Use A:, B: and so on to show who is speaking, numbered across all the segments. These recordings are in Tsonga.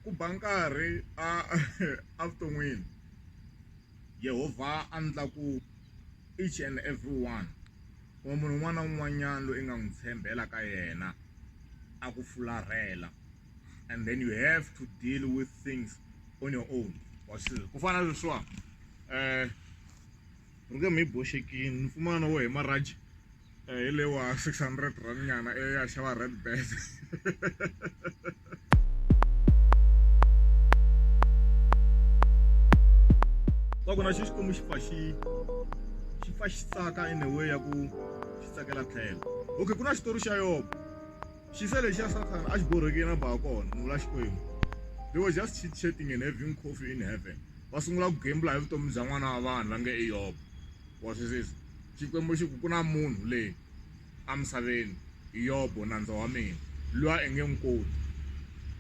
A: Ku ba nkarhi a evuton'wini Yehovha a endla ku each and every one or munhu un'wana na un'wanyana loyi i nga n'wi tshembela ka yena a ku fularhela and then you have to deal with things on your own wa swi ku fana na leswiwa . rhunge mi boxekini ni pfumana wo hi maraji eh, hi lewa 600 rand nyana e ya xava red bed va ku na xi xikwembu xi pfa xi xi pfa xi tsaka in a way ya ku xi tsakela tlhelo okay ku na xitori xa yobo She said lexi ya Satan a xi borhekile na ba kona munhu la Xikwembu. They were just chit chatting and having coffee in heaven. Va sungula ku gembula hi vutomi bya n'wana wa vanhu va nge i Yob. Wa swi sisa. Xikwembu xi ku ku na munhu leyi a misaveni Yob nandza wa mina loyi a nge n'wi koti.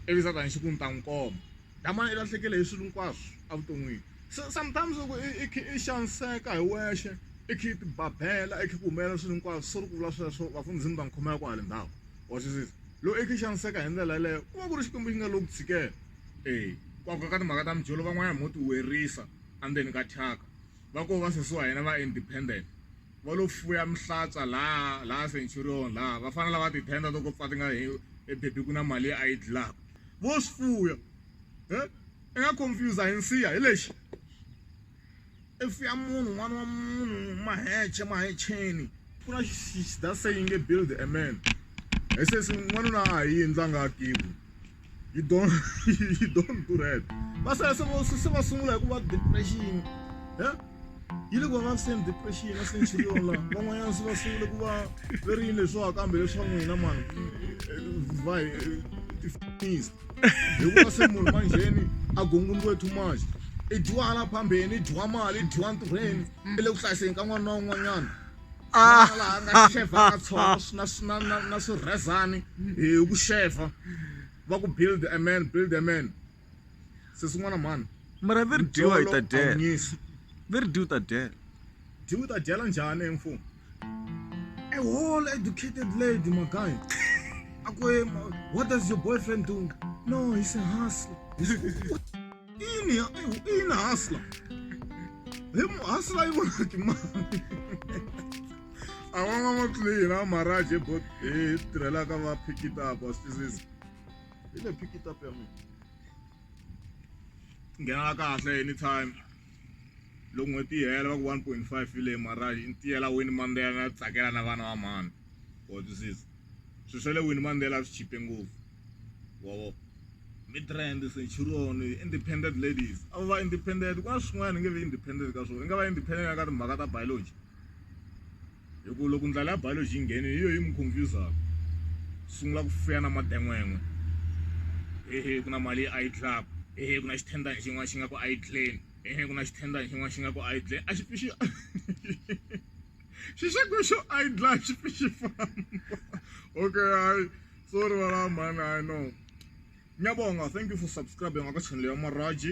A: Ivi Satan xi ku ni ta n'wi komba. Damani i lahlekele hi swilo hinkwaswo evuton'wini so sometimes loko i kha i xaniseka hi wexe i kha i ti babela i kha ku humelela swilo hinkwaswo so ri ku vula sweswo vafundhisi mi ta n'wi khomela kwale ndhawu wa swi sisa loko i kha i xaniseka hi ndlela yeleyo ku va ku ri xikwembu xi nga lo ku tshikela eya ku aka ka timhaka ta mijolo van'wanyana mo ti werisa endzeni ka thyaka va koho va sesi wa hina va independent. va lo fuya mihlatsa laha laha centurion laha vafana lava tithenda to ko pfa ti nga he ebebi ku na mali leyi a yi dlaka vo swi fuya e i nga confuse hi nsiya hi lexi i fuya munhu n'wana wa munhu maheche mahecheni ku na xi that saying nge build a man hi sesi n'wanuna a ha yini la nga akiwi you don't you don't do that va sala se va se va sungula hi ku va depression ya yi le ku va vaviseni depression ya centurion la van'wanyana se va sungule ku va ve ri yini leswiwa kambe leswa n'wina mani va tifanisa hikuva se munhu manjheni a gonguluwe too much i dyiwa hala phambeni i dyiwa mali i dyiwa ntirhweni i le ku hlayiseni ka n'wana na un'wanyana Ah. laha nga xevhaka tshono na na na na swirhezani hi ku xevha va ku build a man build a man se swin'wana mhani mara ve ri dyiwa hi ta dyela ve ri dyiwa ta dyela dyiwa ta dyela njhani hi mfumo a whole educated lady my guy akwe what does your boyfriend do no he's a hustler ine ya ayo ine hasla he mu hasla yi vona ki mali a va nga ma player a maraj he bot he tirhelaka va pick it up a swi twisisi hi le pick it up ya mina nghenela kahle anytime loko n'hweti yi hela va ku one point five yi le maraj yi tiyela wini mandela na tsakela na vana va mhani wa twisisa swilo swa le wini Mandela swi chipe ngopfu wavo midrand centurion independent ladies a va independent ku na swin'wana nge vi independent ka swona i nga va independent ka timhaka ta biology hi ku loko ndlela ya biology yi ngheni hi yo yi mi confusaka sungula ku fuya na maten'wen'we hehe ku na mali a yi dlaka hehe ku na xithendani xin'wana xi nga ku a yi dleni hehe ku na xithendani xin'wana xi nga ku a yi dleni a xi pixi xi xa ku xo a yi dlaya xi fi xi famba okay hayi sorry wala mhani hayi no nyabonga thank you for subscribing aka channel ya maraji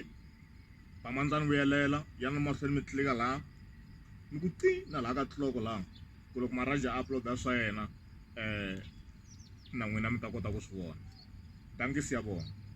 A: vamandzani vuyelela ya na mahlweni mi tlilika laha mi ku ti na laha ka tliloko laha ku loko maraji a uploada swa yena um na n'wina mi ta kota ku swi vona tangisi ya vona